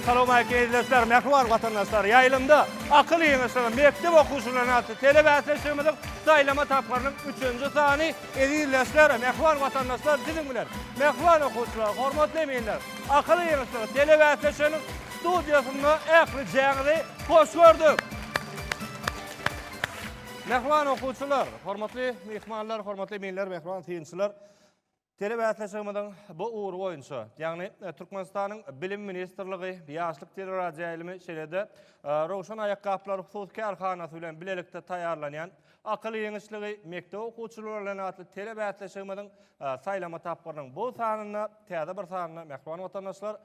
Assalamualeýkum eziz dostlar, mähriban watandaşlar. Ýaýlymda akyl ýygyşygy mekdep okuwçylarynyň atly telebäsleşigimiziň saýlama tapgyrynyň üçünji sany eziz dostlar, mähriban watandaşlar siziň bilen. Mähriban okuwçylar, hormatly eminler, akyl ýygyşygy telebäsleşiginiň Studiýasynda ählijaňyzy hoş gördük. Mähriban okuwçylar, hormatly myhmanlar, hormatly eminler, mähriban synçylar! Telebäsleşigimiziň bu ugry boýunça, ýagny Türkmenistanyň Bilim ministrligi, Ýaşlyk teleradioýaýlymy, şeýle-de Röwşen aýakgaplary hususy kärhanasy bilen bilelikde taýýarlanýan Akyl ýeňişligi mekdep okuwçylary bilen atly telebäsleşigimiziň saýlama tapgyrynyň bu sanynda, täze bir sanynda mähriban watandaşlar,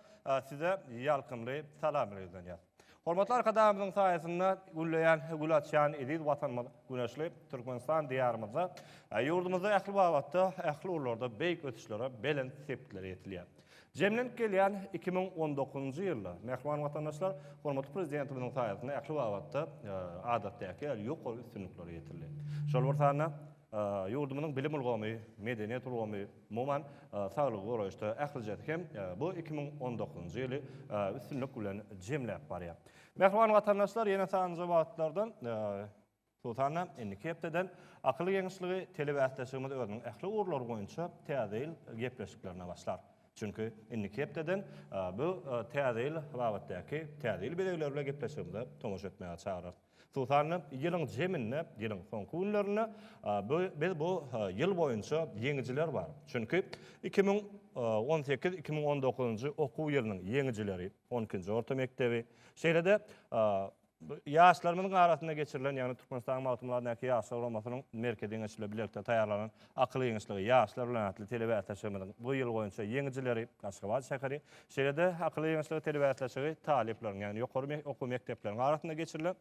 size ýalkymly salamyny ýüzlenýär. Hormatly Arkadagymyzyň saýasynda gülleýän, gül açýan eziz Watanymyz güneşli Türkmenistan Diýarymyzda, ýurdumyzda ähli babatda, ähli ugurlarda beýik ösüşlere, belent sepgitlere ýetilýär. Jemlenip gelýän iki müň on dokuzynjy ýylda, mähriban watandaşlar, hormatly Prezidentimiziň saýasynda ähli babatda adatdaky ýaly ýokary üstünliklere ýetildi. Şol bir sanda ýurdumyzyň bilim ulgamy, medeniýet ulgamy, umuman, saglygy goraýyşda ählijesi hem bu iki müň on dokuzynjy ýyly üstünlik bilen jemläp barýar. Mähriban watandaşlar, ýene sanjy babatlardan Hususan-da, indiki hepdeden Akylly geňeşligi telebäsdeşligimiz özüniň ähli ugurlary boýunça Täze ýyl gepleşiklerine başlar. Çünki, indiki hepdeden bu Täze ýyl babatdaky Täze ýyl bezegleri bilen gepleşigimize tomaşa etmäge çagyrarys. Hususan-da, ýylyň jeminde, ýylyň soňky günlerinde bu biz bu ýyl boýunça ýeňijiler bar. Çünki, iki müň on sekiz, iki müň on dokuzynjy okuw ýylynyň ýeňijileri, on ikinji orta mekdebi, şeýle-de Ýaşlarymyzyň arasynda geçirilen, ýagny Türkmenistanyň Magtymguladyndaky Ýaşlar guramasynyň merkezi geňeşi bilen bilelikde taýýarlanan Akyl giňişligi, ýaşlar bilen atly telebäsleşigimiziň bu ýyl boýunça ýeňijileri Aşgabat şäheri, şeýle-de Akyl giňişligi telebäsleşigi talyplaryň, ýagny ýokary okuw mekdepleriň arasynda geçirilen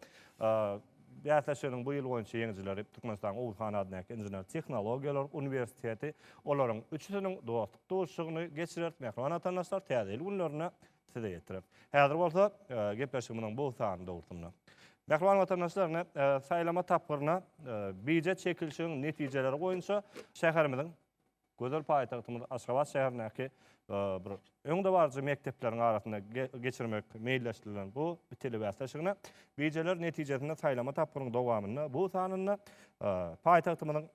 bäsleşiginiň bu ýyl boýunça ýeňijileri Türkmenistanyň Oguz han adyndaky Inžener-tehnologiýalar uniwersiteti, olaryň üçüsiniň dostluk duşuşygyny geçirer. Mähriban watandaşlar, täze ýyl günlerinde size ýetirer. Häzir bolsa gepleşigimiziň bu sany dogrusynda Mähriban watandaşlar, ine, saýlama tapgyryna bije çekilişigiň netijeleri boýunça şäherimiziň, gözel paýtagtymyz Aşgabat şäherindäki bir öňdebaryjy mekdepleriň arasynda geçirmek meýilleşdirilen bu telebäsleşigine bijeler netijesinde saýlama tapgyrynyň dowamynda bu sanynda paýtagtymyzyň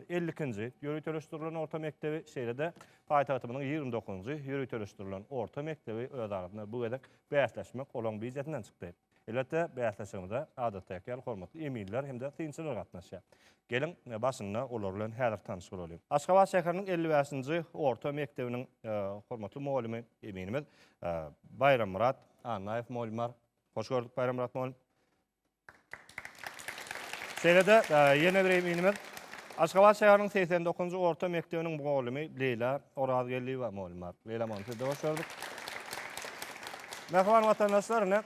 elli ikinji ýöriteleşdirilen orta mekdebi, şeýle-de paýtagtymyzyň ýigrimi dokuzynjy ýöriteleşdirilen orta mekdebi öz arasynda bu gezek bäsleşmek olaryň býujetinden çykdy. Elbetde, bäsleşigimize adatdaky ýaly hormatly eminler hem-de synçylar gatnaşýar. Geliň, başynda olar bilen häzir tanyş bolalyň. Aşgabat şäheriniň elli bäşinji orta mekdebiniň hormatly mugallymy, eminimiz Baýrammyrat Annaýew mugallym bar. Hoş gördük, Baýrammyrat mugallym. Şeýle-de, ýene bir eminimiz, Aşgabat şäheriniň segsen dokuzynjy orta mekdebiniň mugallymy Leýla Orazgeldiýewa mugallym bar. Leýla mugallym, size-de hoş gördük. Mähriban watandaşlar, ine,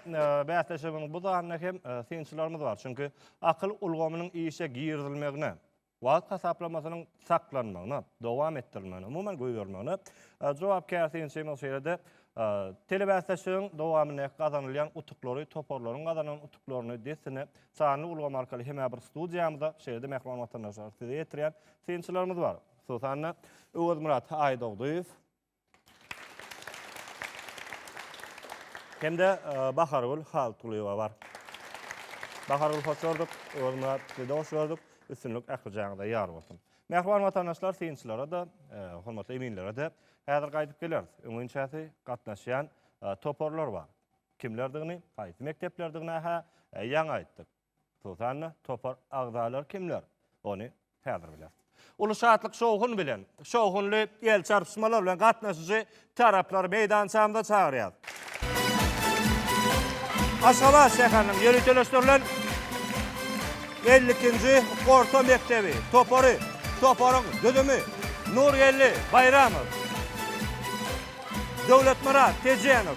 bäsleşigimiziň bu sanynda hem synçylarymyz bar. Çünki akyl ulgamynyň işe girizilmegine, wagt hasaplamasynyň saklanmagyna, dowam etdirilmegine, umuman goýbermegine jogapkär synçymyz şeýle-de telebäsleşigiň dowamyndaky gazanylýan utuklary, toparlaryň gazanan utuklaryny dessine sanly ulgam arkaly hemä bir studiýamyza, şeýle-de mähriban watandaşlar size ýetirýän synçylarymyz bar. Hususan-da, Öwezmyrat Aýdogdyýew, Hem-de Bahargül Haltgulyýewa bar. Bahargül hoş gördük, Öwezmyrat sizede hoş gördük. Üstünlik ählijaňyza ýar bolsun. Mähriban watandaşlar synçylara-da, hormatly eminlere-de häzir gaýdyp geleris. Öňinçäsi gatnaşýan toparlar bar. Kimlerdigini, haýsy mekdeplerdigini-hä ýaňy aýtdyk. Susanna, topar agzalary kimler? Ony häzir bileris. Uly şatlyk-şowhun bilen, şowhunly el çarpyşmalar bilen gatnaşyjy taraplary meýdançamyza çagyrýarys. Aşgabat şäheriniň ýöriteleşdirilen elli ikinji orta mekdebi topary, toparyň düzümi, Nurgeldi Baýramow, Döwletmyrat Tejenow,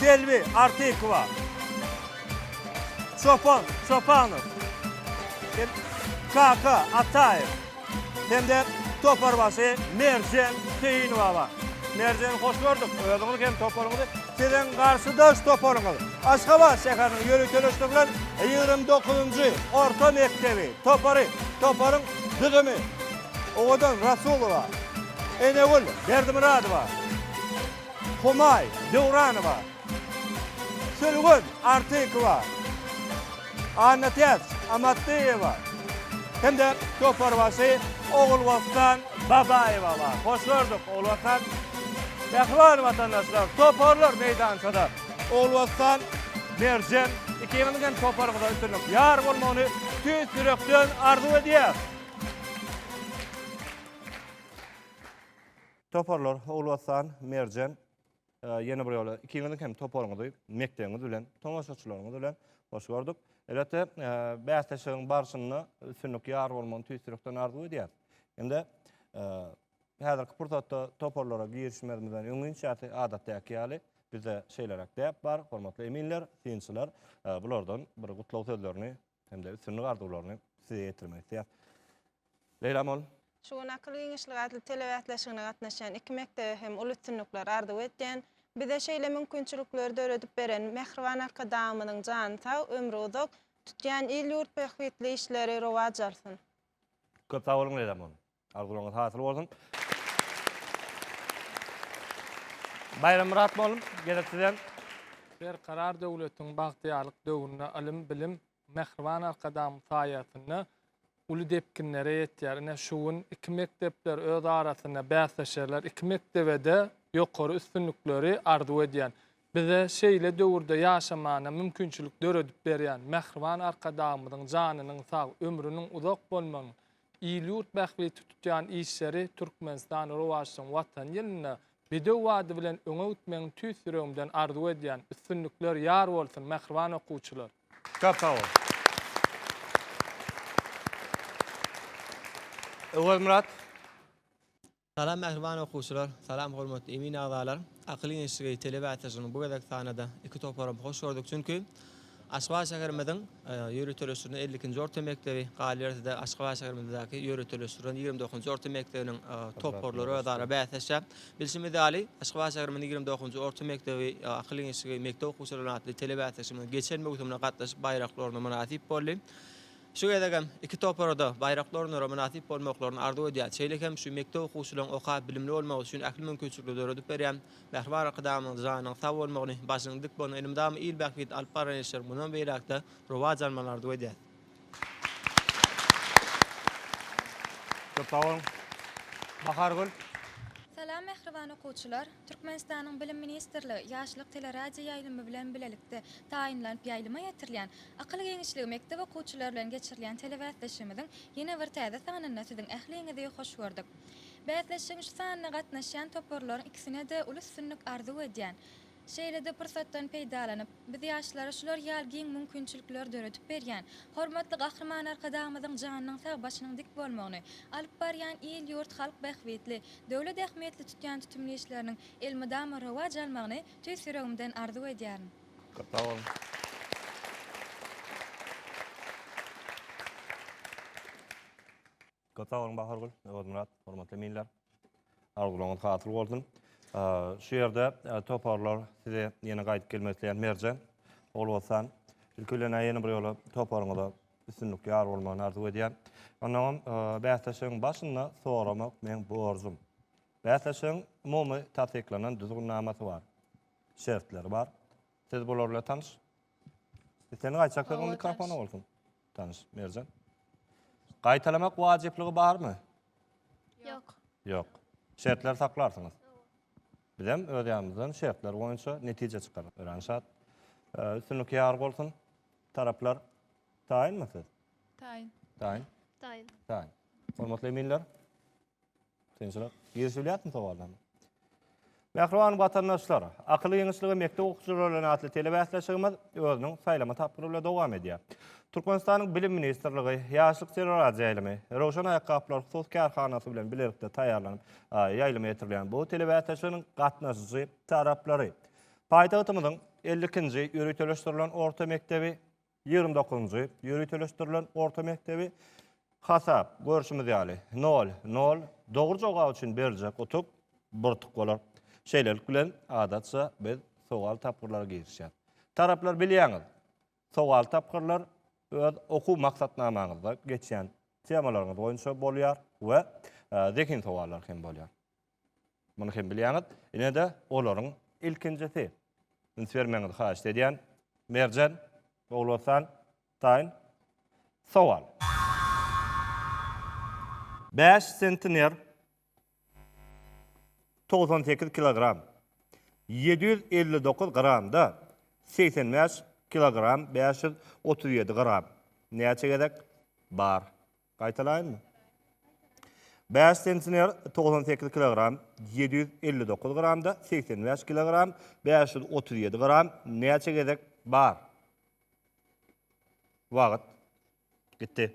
Selbi Artykowa, Çopan Çopanow, Kaka Ataýew hem-de toparbaşy Merjen Keýinowa bar. Merjen, hoş gördük. Özüňizi hem toparyňyzy. Siziň garşydaş toparyňyz Aşgabat şäheriniň ýöriteleşdirilen ýigrimi dokuzynjy orta mekdebi topary. Toparyň düzümi. Owadan Rasulowa, Enegül Berdimyradowa, Humaý Döwranowa, Sülgün Artykowa, Annatäç Amatlyýewa hem-de toparbaşy Ogulbossan Babaýewa bar. Hoş gördük, Ogulbossan! Mähriban watandaşlar, toparlar meýdançada. Ogulbossan, Merjen, ikiňiziň hem toparyňyza üstünlik, ýar bolmagyny tüýs ýürekden arzuw edýäs! Toparlar Ogulwatan, Merjen, ýene bir ýola ikiňiziň hem toparyňyzy, mekdebiňiz bilen, tomaşaçylaryňyz bilen hoş gördük. Elbetde, bäsleşigiň barşynda üstünlik ýar bolmagyny tüýs ýürekden arzuw edýäs. Indi häzirki pursatda toparlara girişmezimizden öň inçäsi, adatdaky ýaly, bizde şeýleräk däp bar, hormatly eminler, synçylar, bulardan bir gutlag sözlerini hem-de üstünlik arzuwlaryny size ýetirmek isleýär. Leýla mol. Şu gün Akyl giňişligi atly telebäsleşigine gatnaşýan iki mekdebe hem uly üstünlikler arzuw edýän. Bize şeýle mümkinçilikleri döredip beren mähriban Arkadagymyzyň jany sag, ömri uzak, tutýan il-ýurt bähbitli işleri rowaç alsyn! Köp sag boluň Leýla mol. Arzuwlaryňyz hasyl bolsun. Baýrammyrat molym, gezek sizem. Berkarar döwletiň bagtyýarlyk döwründe ylym, bilim Mähriban Arkadagymyz saýasynda uly depginlere ýetýär. Ine, şu gün iki mekdepler öz arasynda bäsleşerler. Iki mekdebe-de ýokary üstünlikleri arzuw edýän. Bize şeýle döwürde ýaşamana mümkinçilik döredip berýän Mähriban Arkadagymyzyň janynyň sag, ömrüniň uzak bolmagyny, il-ýurt bähbiti tutýan işleri Türkmenistan rowaçlygyň Watan ýylynda bedew bady bilen öňe gitmegiňi tüýs ýüregimden arzuw edýän. Üstünlikler ýar bolsun, mähriban okuwçylar! Köp sag bol. Öwezmyrat. Salam mähriban okuwçylar! Salam hormatly emin agzalar! Akyl gençligi telebeatražynyň bu gezek sanyda iki toparam hoş gördük, çünki Aşgabat şäherimiziň ýöriteleşdirilen elli ikinji orta mekdebi, galyberse-de Aşgabat şäherimizdäki ýöriteleşdirilen ýigrimi dokuzynjy orta mekdebiniň toparlary özara bäsleşýär. Bilşimiz ýaly, Aşgabat şäherimiziň ýigrimi dokuzynjy orta mekdebi Akyl gençligi mekdep okuwçylarynyň atly telebeatraşymyz geçen möwsümde gatnaşyp baýrakly orna mynasyp boldy. Şu gezek hem iki topara-da baýrakly orunlara mynasyp bolmaklaryny arzuw edýän, şeýle hem şu mekdep okuwçylaryň okap, bilimli bolmagy üçin ähli mümkinçilikleri döredip berýän mähriban Arkadagymyzyň janynyň sag bolmagyny, başynyň dik bolmagyny, elmydama il bähbidine alyp barýan işleriň mundan beýläk-de rowaç almagyny arzuw edýäs. Köp sag boluň. Bahargül. Salam mähriban okuwçylar! Türkmenistanyň Bilim ministrligi Ýaşlyk teleradioýaýlymy bilen bilelikde taýynlanyp ýaýlyma ýetirilýän Akyl giňişligi mekdep okuwçylary bilen geçirilýän telebäsleşigimiziň ýene bir täze sanynda siziň ähliňizi hoş gördük. Bäsleşigiň şu sanyna gatnaşýan toparlaryň ikisine-de uly üstünlik arzuw edýän. Şeýle-de pursatdan peýdalanyp, biz ýaşlara şular ýaly giň mümkinçilikleri döredip berýän Hormatly Gahryman Arkadagymyzyň janynyň sag, başynyň dik bolmagyny, alyp barýan il-ýurt, halk bähbitli, döwlet ähmiýetli tutýan tutumly işleriniň elmydama rowaç almagyny tüýs ýüregimden arzuw edýärin. Köp sag boluň Bahargül, Öwezmyrat, hormatly eminler. Arzuwlaryňyz hasyl bolsun. Şu ýerde toparlar size ýene gaýdyp gelmek isleýän Merjen, Ogulbossan. Ilki bilen ýene bir ýola toparyňyza üstünlikli ýar bolmagyny arzuw edýän. Onnoňam bäsleşigiň başynda soramak meň borjum. Bäsleşigiň umumy tassyklanan düzgünnamasy bar. şertleri bar. Siz bular bilen tanyş. Sen gaýçak sen mikrofona bolsun. Tanyş Merjan. Gaýtalamak wajyplygy barmy? Ýok. Ýok. Şertleri saklarsyňyz. Biz hem öz ýanymyzdan şertler boýunça netije çykaryp öwrenşat. Üstünlik ýar bolsun. Taraplar taýynmy siz? Taýyn. Taýyn. Taýyn. Taýyn. Hormatly eminler. Kynçylyk. Girişilýärmi sowala? Mähriban watandaşlar, Akyl giňişligi mekdep okuwçylary bilen atly telebäsleşigimiz özüniň saýlama tapgyry bilen dowam edýär. Türkmenistanyň Bilim ministrligi, Ýaşlyk teleradýo ýaýlymy, Röwşen aýakgaplary hususy kärhanasy bilen bilelikde taýýarlanyp, ýaýlyma ýetirilýän bu telebäsleşiginiň gatnaşyjy taraplary, paýtagtymyzyň elli ikinji ýöriteleşdirilen orta mekdebi, Ýigrimi dokuzynjy ýöriteleşdirilen orta mekdebi hasap, görşümiz ýaly, nol, nol, dogry jogap üçin berjek utuk bir utuk bolar. Şeýlelik bilen, adatça, biz sowal tapgyrlara girişýäs. Taraplar, bilýäňiz, sowal tapgyrlar öz okuw maksatnamaňyzda geçýän temalaryňyz boýunça bolýar we zehin sowallary hem bolýar. Muny hem bilýäňiz. Ine-de olaryň ilkinjisi. Üns bermegiňizi haýyşt edýän. Merjen, Ogulostan, taýyn sowal. Bäş sentiner, togsan sekiz kilogram, ýedi ýüz elli dokuz gramda, segsen bäş kilogram, bäş ýüz otuz ýedi gram. Näçe gezek bar? Gaýtalaýynmy? Bäş sentner togsan sekiz kilogram, ýedi ýüz elli dokuz gramda segsen bäş kilogram, bäş ýüz otuz ýedi gram näçe gezek bar? Wagt. Gitdi.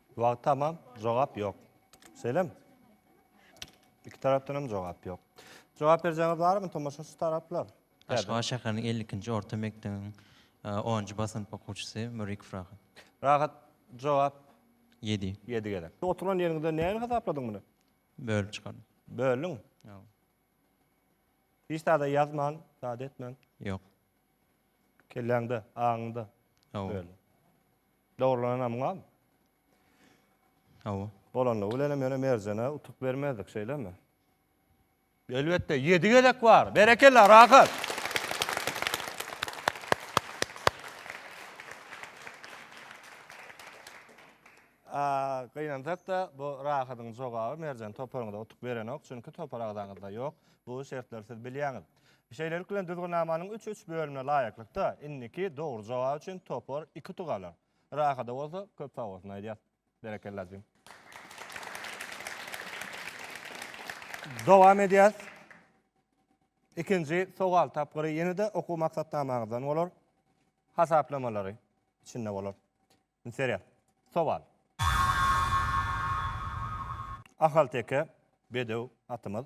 Wagt tamam, jogap ýok. Şeýlemi? Iki tarapdan hem jogap ýok. Jogap berjeňiz barmy tomaşaçy taraplar? Aşgabat şäheriniň 52-nji orta mekdebiň e, onunjy B synp okuwçysy Mürikov Rahat. Rahat jogap 7. 7 gezek. Oturan ýeriňizde näme hasapladyň muny? Bölüp çykardyň. Böldüň. Ýok. Hiç zada ýazman, zada etmän. Ýok. Kelläňde, aňyňda Ýok. böldüň. Dogrulanamgam? Hawa. Bolanlygy bilenem ýöne Merjene utuk bermezdik, şeýlemi? Elbetde, ýedi gezek bar. Berekella, rahat. Gynansak-da, bu Rahadyň jogaby Merjen toparyňyza utuk berenok, çünki topar agzaňyzda ýok. Bu şertleri siz bilýäňiz. Şeýlelik bilen düzgünnamanyň üç üç bölümine laýyklykda indiki dogry jogap üçin topar iki utuk alar. Rahada bolsa köp sag bolsun aýdýas. Berekella jigim. Dowam edýäs. Ikinji sowal tapgyry ýene-de okuw maksatnamaňyzdan bolar. Hasaplamalary içinde bolar. Serýa. Sowal. Ahalteke bedew atymyz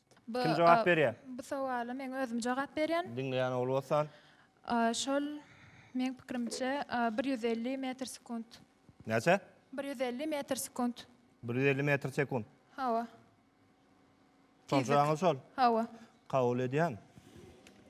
Bu, Kim jogap berýär? Bu sowala men özüm jogap berýän. Diňleýän ogly bolsan. Şol meň pikirimçe 150 metr sekunt. Näçe? 150 metr sekunt. 150 metr sekunt. Hawa. Şonça aňyr şol. Hawa. Kabul edýän.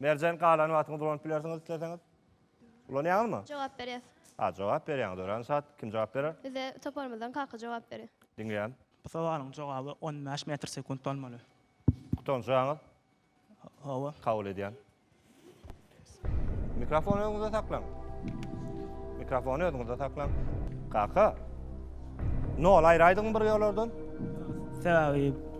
Merjen galan wagtyňyz ulanyp bilersiňiz isleseňiz. Ulanýaňyzmy? Jogap berýäs. A, jogap berýäňiz. Örän şat. Kim jogap berer? Bize toparymyzdan Kaka jogap berýär. Diňleýän. Bu sowalyň jogaby on bäş metr sekunt bolmaly. Gutançaňyz? Hawa. Kabul edýän. Mikrofony özüňizde saklaň. Mikrofony özüňizde saklaň. Kaka. Nol aýraýdyňmy bir ýolardan? Sebäbi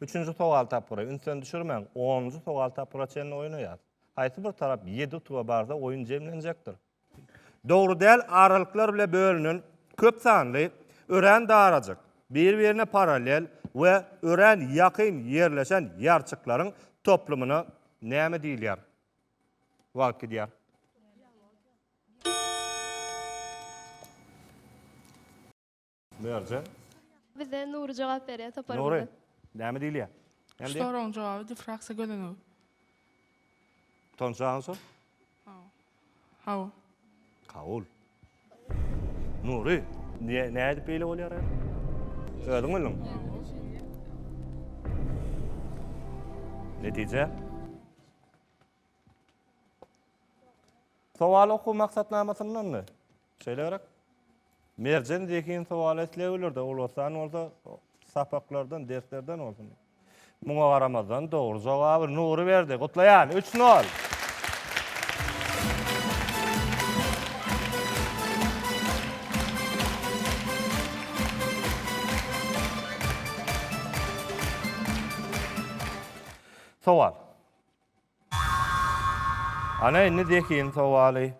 Üçünji sowal tapgyry ünsden düşürmäň. Onunjy sowal tapgyra çenli oýnaýas. Haýsy bir tarap ýedi utuga barsa oýun jemlenjekdir. Dogry däl aralyklar bile bölünen köp sanly örän darajyk, bir-birine parallel we örän ýakyn ýerleşen ýarçyklaryň toplumyna näme diýilýär? Wagt gidýär. Merjen. Bize Nury jogap berýär toparymyza. Nury, näme diýilýär? Şu soragyň jogaby difraksiýa gözenegi. Tonçagyň so? Hawa. Kabul. Nury, niye, ne edip beyle oluyor ya? Ödün oldun. Netice? Sowal okuw maksatnamasyndanmy? Şeýle gerek. Merjen zehin sowal isleýärler-de, ulasdan bolsa sapaklardan, derslerden bolsun. Muňa garamazdan dogry jogaby Nury berdi. Gutlaýan 3-0. Sowal. Ana indi zehin sowaly.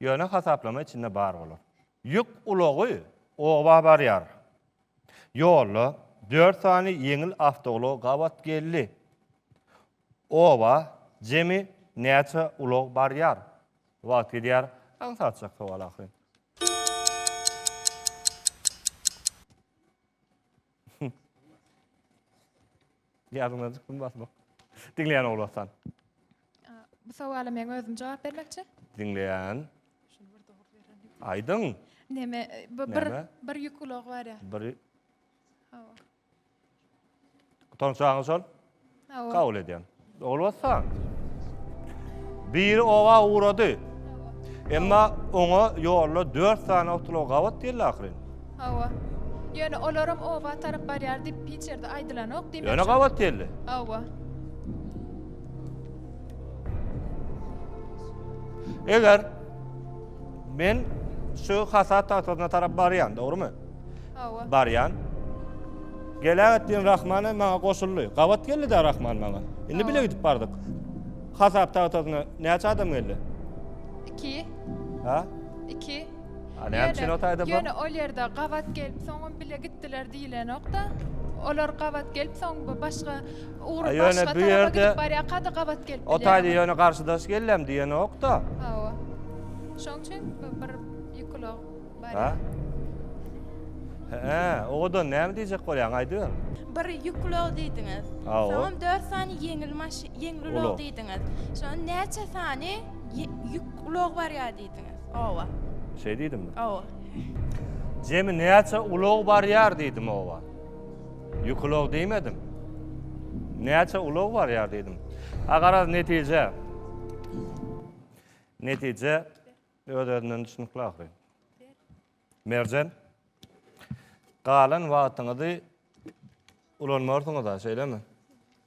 Ýöne hasaplama içinde bar bolar. Ýük ulagy oba barýar. Ýolda dört sany ýeňil awtoulag gabat geldi. Oba jemi näçe ulag barýar? Wagt gidýär, aňsatjak sowal ahyryn. Ýadyňdan çykdym basmak. Diňleýän Ogulhassan. Bu sowala men özüm jogap bermekçi. Diňleýän. Aýdyň. Neme bir bir, bir ýük ulag bar ya. Bir. Hawa. Tonçagyň şol. Kabul edýän. Bolbasa, biri oba ugrady. Emma oňa ýolda dört sany awtolog gabat geldi ahyryn. Hawa. Ýöne olaram oba tarap barýar diýip hiç ýerde aýdylanok diýmek. Ýöne gabat geldi. Hawa. Eger men şu hasap tahtasyna tarap barýan, dogrymy? Hawa. Barýan. Geläg etdiň Rahmana maňa goşuldy. Gabat geldi-de Rahman maňa. Indi bile gidip bardyk. Hasap tagtasyna näçe adam geldi? Iki. Ha? Iki. Ha, näme üçin o taýda bu? Ýöne ol ýerde gabat gelip, soňam bile gitdiler diýilenok-da. Olar gabat gelip, soň bu başga ugur başga ýöne bu ýerde gidip barýarka-da gabat gelip. O taýda ýöne garşydaş geldim diýenok-da. Hawa. Şoň üçin bir ýykylag Ha? He, oda näme diýjek bolýaň, aýdyber. Bir ýük ulag diýdiňiz. Soňam dört sany ýeňil maş, ýeňil ulag diýdiňiz. Şoň näçe sany ýük ulag barýar diýdiňiz. Owa. Şeý diýdimmi? Owa. Jemi näçe ulag barýar diýdim owa. Ýük ulag diýmedim. Näçe ulag barýar diýdim. A garaz netije. Netije Öz özünden düşnükli ahyry. Merjen. Galan wagtyňyzy ulanmarsyňyz-a, şeýlemi?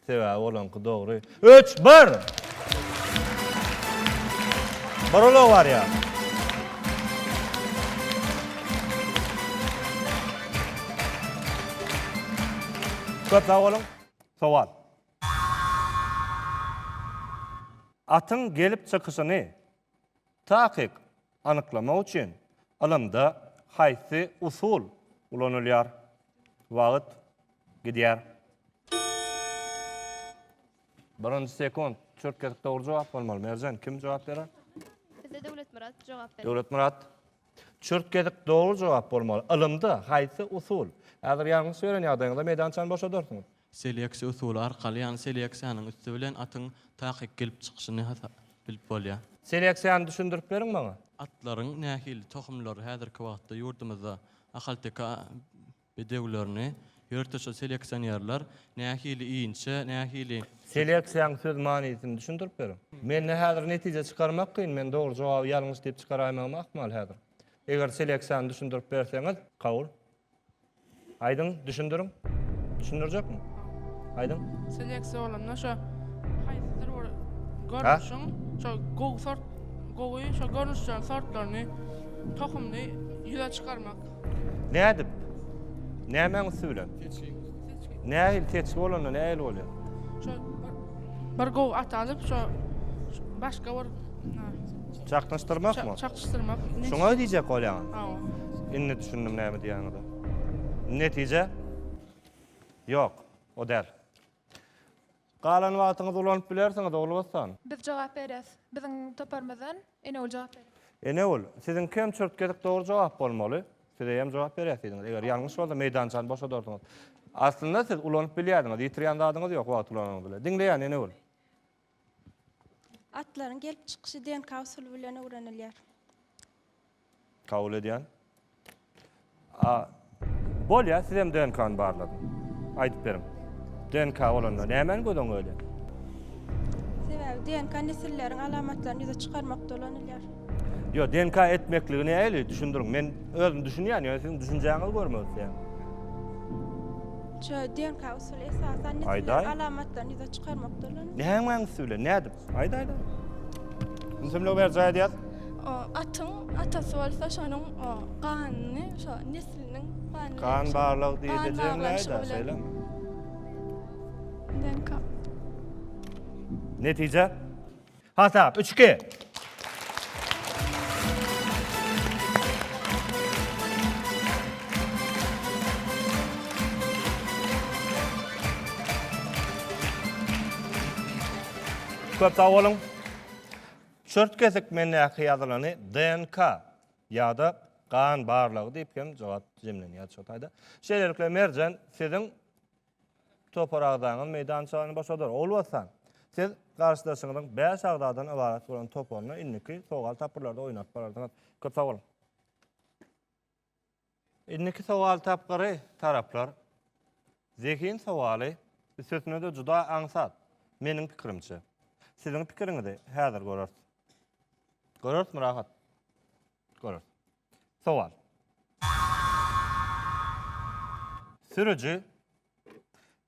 Sebäbi olaňky dogry. 3 1. Barola bar ya. Köp sag olun. Sowal. Atyň gelip çykyşyny Takyk anyklamak üçin ylymda haýsy usul ulanylýar? Wagt gidýär. Birinji sekunt. Çürtgedip dogry jogap bolmaly. Merjen, kim jogap berer? Bize Döwletmyrat jogap berer. Döwletmyrat. Çürtgedip dogry jogap bolmaly. Ylymda haýsy usul? Häzir ýalňyş beren ýagdaýyňyzda meýdançany boşadarsyňyz. Seleksiýa usuly arkaly, ýagny seleksiýanyň üsti bilen atyň takyk gelip çykyşyny bilip bolýar. Seleksiýany düşündirip beriň maňa. Atlaryň nähili tohumlary häzirki wagtda ýurdumyzda ahalteke bedewlerini ýörteçe seleksionerler nähili inçe, nähili. Seleksiýaň söz manysyny düşündirip beriň. Mende häzir netije çykarmak kyn, men dogry jogaby ýalňyş diýip çykaraýmagym ahmal häzir. Eger seleksiýany düşündirip berseňiz, kabul. Aýdyň, düşündiriň. Düşündirjekmi? Aýdyň. Selektsiýa bolanda şo haýsydyr bir görnüşiň şo gowy sort, gowy şo görnüşleriň sortlaryny tohumly ýüze çykarmak. Nädip? Nämäň üsti bilen? Keçiň. Seçki. Nähili seçgi bolanda nähili bolýar? Şo bir gowy at alyp, şo başga bir çaknyşdyrmakmy? Çaknyşdyrmak. Şuňa diýjek bolýaň. Hawa. Indi düşündim näme diýýäňizi. Netije? Ýok, o däl. Galan wagtyňyzy ulanyp bilersiňiz, Ogulbossan. Biz jogap bereris. Biziň toparymyzdan Enewül jogap berer. Enewül, siziňkem çürt gezek dogry jogap bolmaly. Siz eýýäm jogap berýärsidiňiz. Eger ýalňyş bolsa, meýdançany boşadarsyňyz. Aslynda siz ulanyp bilýärdiňiz. Ýitirýän zadyňyz ýok wagty ulananyňyz bilen. Diňleýän, Enewül. Atlaryň gelip çykyşy DNK usuly bilen öwrenilýär. Kabul edýän. A bolýa sizem DNK-ny barlaň. Aýdyp beriň. DNK bolanda nämäni göz öňe gelýär? Sebäbi DNK nesilleriň alamatlaryny ýüze çykarmakda ulanylýar. Ýo, DNK etmekligi nähili? Düşündiriň. Men özüm düşünýän, ýöne siziň düşünjäňizi görmek isleýän. Şu DNK usuly esasan nesilleriň alamatlaryny ýüze çykarmakda ulanylýar. Nämäň üsti bilen? Nädip? Aýda aýda. Ünsümlik ber jaý edýär. O atyň atasy bolsa şonuň o ganyny, şo nesliniň ganyny. Gan barlyk diýdi jemläýdi, şeýlemi? DNK. Netije? Hasap 3-2. Köp sag boluň. Çört kesik mendäki ýazylany DNK ýa-da gan barlagy diýip hem jogap jemlenýär şu taýda. Şeýlelikle Merjen siziň Topar agzaňyz meýdançany boşadar. Ogulbossan, siz garşydaşyňyzyň bäş agzadan ybarat bolan toparyna indiki sowal tapgyrlarda oýnap bilersiňiz. Köp sag boluň. Indiki sowal tapgyry, taraplar, zehin sowaly, üstesine-de juda aňsat, meniň pikirimçe. Siziň pikiriňizi häzir göreris. Görerismi, Rahat? Görüs. Sowal. Sürüji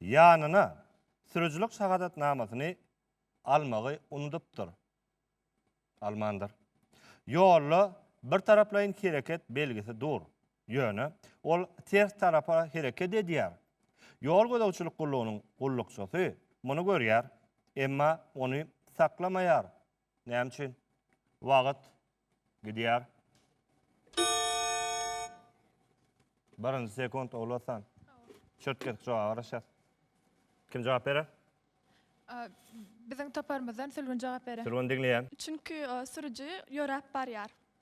ýanyna sürüjilik şahadatnamasyny almagy unudypdyr. Almandyr. Ýolda bir taraplaýyn hereket belgisi dur. Ýöne ol ters tarapa hereket edýär. Ýol gözegçilik gullugynyň gullukçysy muny görýär, emma ony saklamaýar, Näme üçin? Wagt gidýär. Birinji sekund Ogulatan. Çörtgen jogaba garaşýar. Kim jogap berer? Aa, Biziň toparymyzdan Sülgün jogap berer. Sülgün diňleýän. Çünki o sürüji ýöräp barýar.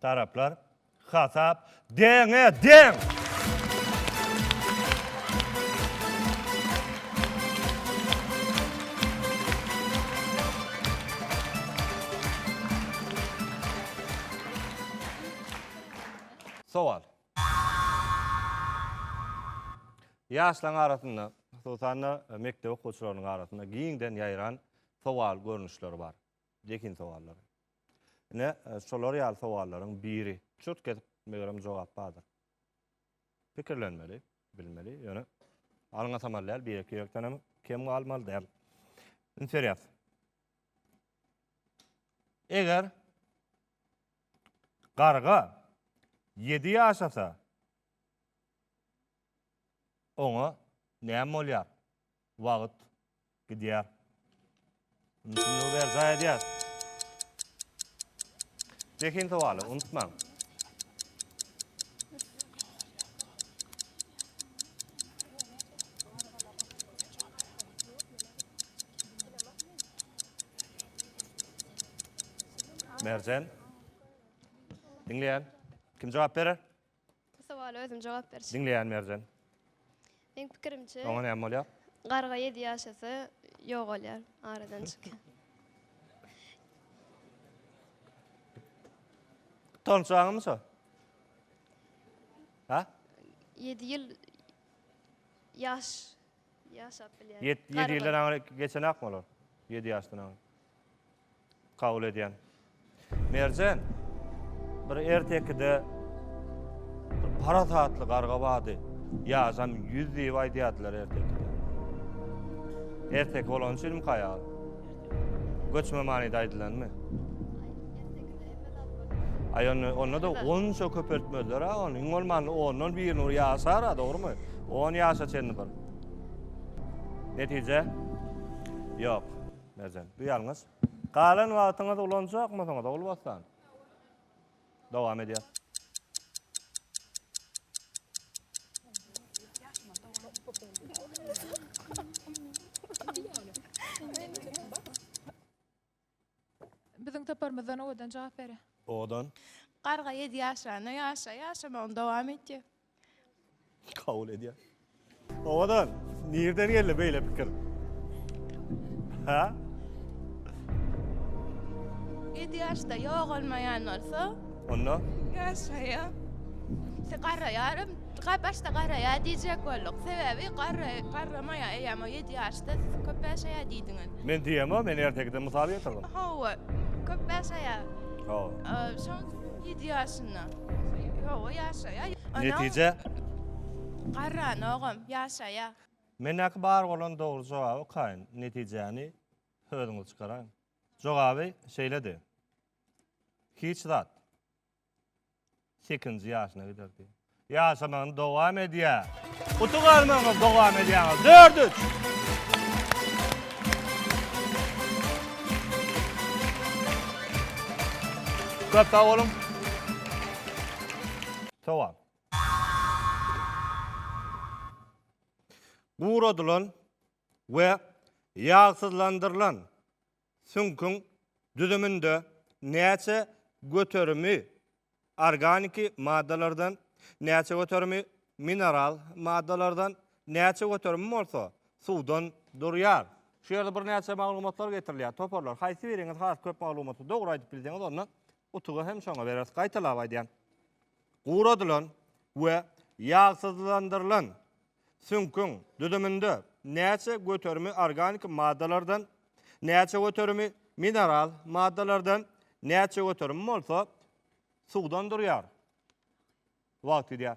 Taraplar, Hasap deňe deň! Sowal. Ýaşlaryň arasynda, hususan-da, mekdep okuwçylarynyň arasynda giňden ýaýran sowal görnüşleri bar. Zehin sowallary. Ine, şolar ýaly sowallaryň biri. Çürt gezip, megerem, jogap bardyr. Pikirlenmeli, bilmeli, ýöne alyň atamaly däl, birek-ýürekden hem kem galmaly däl. Indi serýas. Eger garga ýedi ýaşasa, oňa näme bolýar? Wagt gidýär. Mümkinligi berjaý edýär. Zehin sowaly, unutmaň. Merjen. Diňleýän. Kim jogap berer? Bu sowala özüm jogap berjek. Diňleýän Merjen. Meň pikirimçe. Oňa näme bolýar? Garga ýedi ýaşasa ýogalýar, aradan çykýar. Tonçaňmy şo? Ha? Ýedi ýyl ýaş ýaşap bilýär. Ýedi ýedi ýyldan aňry geçenakmy olar? Ýedi ýaşdan aňry. kabul edýän. Merjen bir ertekide bir parasatly garga bardy. Ýaşam ýüz diýip aýdýardylar ertekide. Ertek bolan üçinmi haýal? Göçme manyda aýdylanmy? Ay onda, onda da onça köpeltmezler ha onu. Iň olmanda ondan bir nur yaşar ha doğru mu? On yaşa çenli bir. Netice? Yok. Merjen. Bu ýalňyş. Galan wagtyňyzy ulanjakmysyňyz, Ogulbossan? Dowam edýär. Biziň toparymyzdan owadan jogap berer. Owadan. Garga ýedi ýaşranda ýaşa, ýaşamagyny dowam etýär. Kabul edýär. Owadan, nirden geldi beýle pikir? Ha? Ýedi ýaşda ýogalmaýan bolsa, Onda? Ýaşaýa. Se garaýarym, ga başda garaýar diýjek bolduk. Sebäbi garra garramaýar eýýäm o ýedi ýaşda siz köp ýaşaýar diýdiňiz. Men diýemok, men ertekiden mysal getirdim. Hawa, köp ýaşaýar. Hawa. Şoň ýedi ýaşynda. Hawa, ýaşaýar. Onuň Netije? Garranogam ýaşaýar. Mendäki bar bolan dogry jogaby okaýyn, netijäni özüňiz çykaraýyň. Jogaby şeýledi. Hiç zat. Sekinji ýaşyna gider diýýär. Ýaşamagyny dowam edýär. Utuk almagyňyzy dowam edýäňiz. Dört üç. Köp sag boluň. Sowal. Guradylan we ýagsyzlandyrylan Süňküň düzüminde näçe göterimi organiki maddalardan, näçe göterimi mineral maddalardan, näçe göterimi bolsa suwdan durýar? Şu ýerde birnäçe maglumatlar getirilýär. Toparlar, haýsy biriňiz has köp maglumaty dogry aýdyp bilseňiz, onda utugy hem şoňa bereris. Gaýtalap aýdýan. Guradylan we ýagsyzlandyrylan Süňküň düzüminde näçe göterimi organiki maddalardan, näçe göterimi mineral maddalardan, näçe göterimi bolsa suwdan durýar? Wagt gidýär.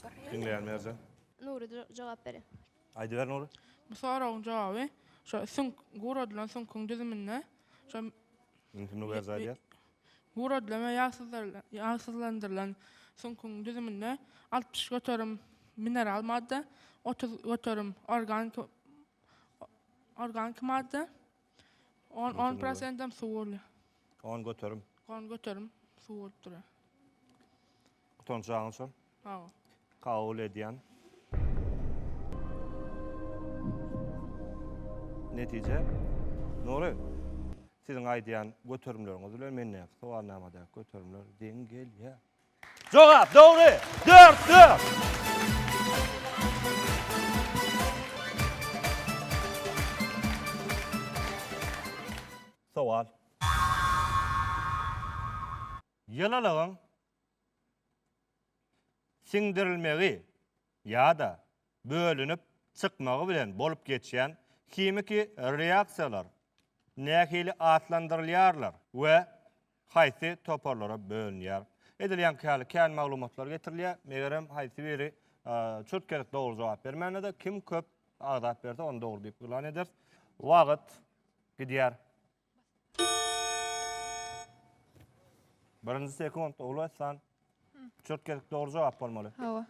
Diňleýän Merjen. Nury jogap berin. Aýdyber Nury. Bu soragyň jogaby şo süňk guradylan süňküň düzüminde şo Mümkin Nury berjaý diýer. Guradylan we ýagsyzlandyrylan süňküň düzüminde altmyş göterim mineral madda, otuz göterim organiki organiki madda, On, on prosentam suw bolýar. On göterim. On göterim suw bolup durýar. Utanjagyň şol. Hawa. Kabul edýän. Netije. Nuri, siziň aýdýan göterimleriňiz bilen mendäki sowalnamadäki göterimler deň gelýär. Jogap, dogry! Dört, dört! Sowal. Ýylylygyň siňdirilmegi ýa-da bölünip çykmagy bilen bolup geçýän himiki reaksiýalar nähili atlandyrylýarlar we haýsy toparlara bölünýär? Edilýänki ýaly kän maglumatlar getirilýär, megerem haýsy biri çürt-kelik dogry jogap bermänede, kim köp agzap berse, ony dogry diýip yglan ederis. Wagt gidýär. Birinji sekund Ogul Arslan. Çürt gezek dogry jogap bolmaly. Hawa.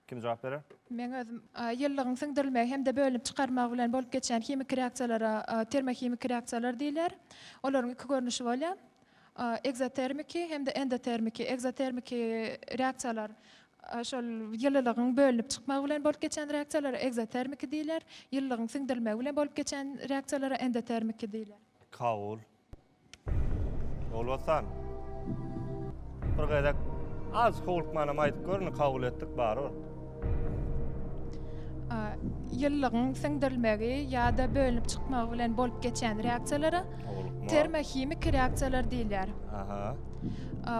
Kim jogap berer? Men özüm ýyllygyň siňdirilmegi hem-de bölünip çykarmagy bilen bolup geçýän himiki reaksiýalara termohimiki reaksiýalar diýilýär. Olaryň iki görnüşi bolýar. Ekzotermiki hem-de endotermiki. Ekzotermiki reaksiýalar Şol ýylylygyň bölünip çykmagy bilen bolup geçen reaksiýalara ekzotermiki diýler, ýylylygyň siňdirilmegi bilen bolup geçen reaksiýalara endotermiki diýler. Kabul. Ýolbassan. Bir gezek azjyk howlukmanam aýdyp gör, indi kabul etdik barybir. Ýylylygyň siňdirilmegi ýa-da bölünip çykmagy bilen bolup geçen reaksiýalara termohimiki reaksiýalar diýler. Aha.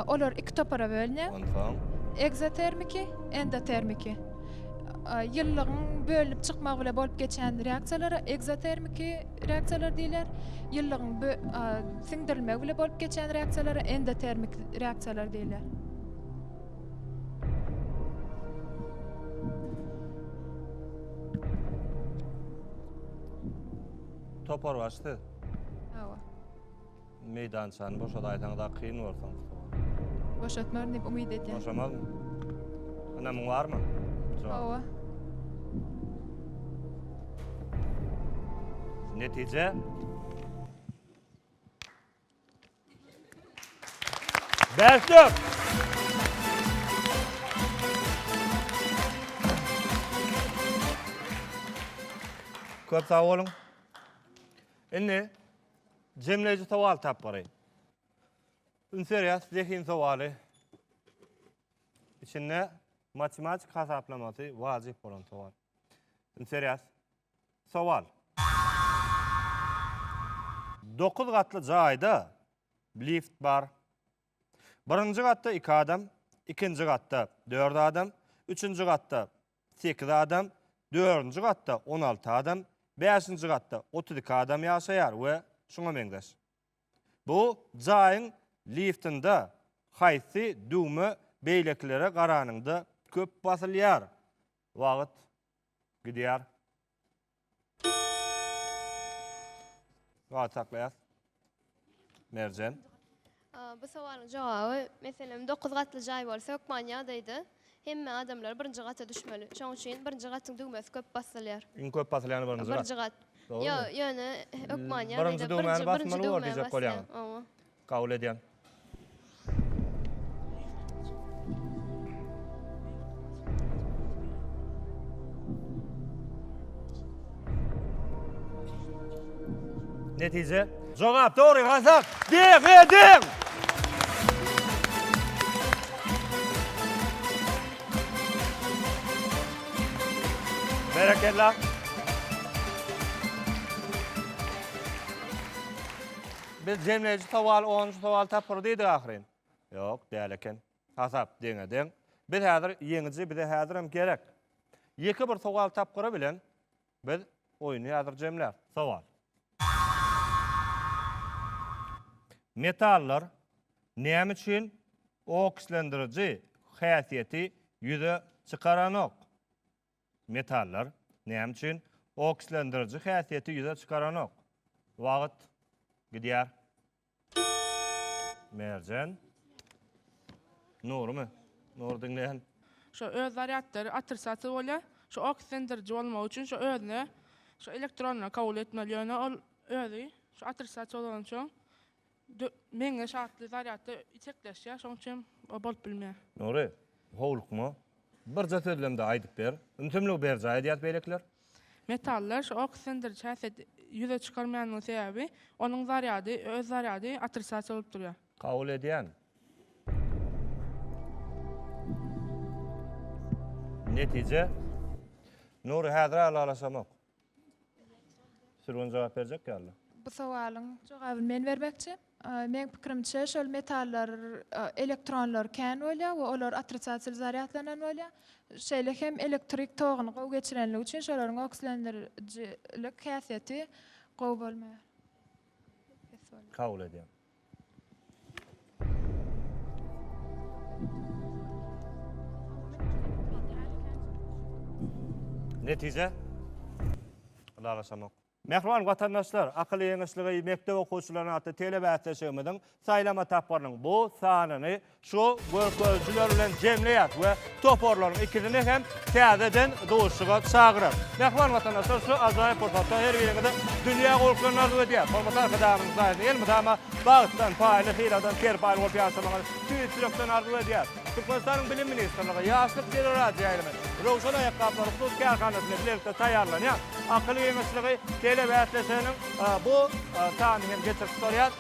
Olar iki topara bölünýär. Onsoň. Ekzotermiki, endotermiki. Ýylylygyň bölünip çykmagy bilen bolup geçýän reaksiýalara ekzotermiki reaksiýalar diýilýär. Ýylylygyň siňdirilmegi bilen bolup geçýän reaksiýalara endotermiki reaksiýalar diýilýär. Toparbaşy siz. Hawa. Meýdançany boşadaýsaň da kyn bolsun Mustafa. Boşatmaryn diýip umyt edýän. Boşamazmy? Ynamyň barmy? Hawa. Netije? Bäş dört. Köp sag boluň. Indi Jemleýji sowal tapgyry. Üns berýäs, zehin sowaly. Içinde matematik hasaplamasy wajyp bolan sowal. Üns berýäs. Sowal. Dokuz gatly jaýda lift bar. Birinji gatda iki adam, ikinji gatda dört adam, üçünji gatda sekiz adam, dördünji gatda on alty adam, bäşinji gatda otuz iki adam ýaşaýar we şuňa meňzeş. Bu jaýyň liftinde haýsy düwme beýlekilere garanyňda köp basylýar? Wagt gidýär. Wagt saklaýas. Merjen. Bu sowalyň jogaby, meselem, 9 gatly jaý bolsa, hökman ýagdaýda hemme adamlar birinji gata düşmeli. Şoň üçin birinji gatyň düwmesi köp basylýar. Iň köp basylyany birinji gat. Birinji gat. Ýöne hökman ýagdaýda birinji düwmä basýar. Birinji düwmä basýar. Oňa. Kabul edýän. Netije. Jogap dogry gazak. Deg edin. Berekella. Biz jemleýji sowal, onunjy sowaly tapgyry diýdik ahyryn. Ýok, däl eken. Hasap deňe-deň. Biz häzir ýeňiji, bize häzirem gerek. Ýeke bir sowal tapgyry bilen biz oýny häzir jemläris. Sowal. Metallar näme üçin okslendiriji häsiýeti ýüze çykaranok? Metallar, näme üçin okslendiriji häsiýeti ýüze çykaranok? Wagt gidýär. Merjen. Nurymy? Nury diňleýän. Şu öz zarýadlary otrisatsiýa bolýar. Şu okslendiriji bolmagy üçin şu özüne şu elektronlary kabul etmeli, ýöne ol özi şu otrisatsiýa bolansoň Meňzeş atly zarýadda itekleşýär, şoň üçin o bolup bilmeýär. Nury, howlukma. Birje sözlemde aýdyp ber. Ümsümligi berjaý edýäs beýlekiler. Metallar şu ok sindiriç häsiýeti ýüze çykarmaýandygynyň sebäbi, onuň zarýady, öz zarýady otrisiasiýa bolup durýar. Kabul edýän. Netije. Nury, häzir-ä ylalaşamok. Sürgün jogap berjek ýaly. Bu sowalyň jogabyny men bermekçi. Meň pikirimçe, şol metallar elektronlary kän bolýar we olar otricatiýaly zarýadlanan bolýar. Şeýle hem elektrik toguny gowy geçirenligi üçin şolaryň okslendiriji lik häsiýeti gowy bolmaýar. Kabul edýän. Netije? Ylalaşamok. Mähriban watandaşlar, akyl ýeňişligi mekdep okuwçylaryna atly telebäsleşigimiziň saýlama tapgyrynyň bu sanyny Şu görkezijiler bilen jemleýär we toparlaryň ikisini hem täzeden duşuşyga çagyrar. Mähriban watandaşlar, şu ajaýyp pursatda her biriňize dünýä gowulyklaryny arzuw edýäs. Hormatly Arkadagymyzyň saýasynda elmydama bagtdan, paýly syladan serpaý bolup ýaşamagyny tüýs ýürekden arzuw edýäs. Türkmenistanyň Bilim ministrligi, Ýaşlyk teleradioýaýlymy, Röwşen aýakgaplary hususy kärhanasy bilen bilelikde taýýarlanýan Akyl geňeşligi telebäsleşiginiň bu sanyny hem geçirip tutarýar.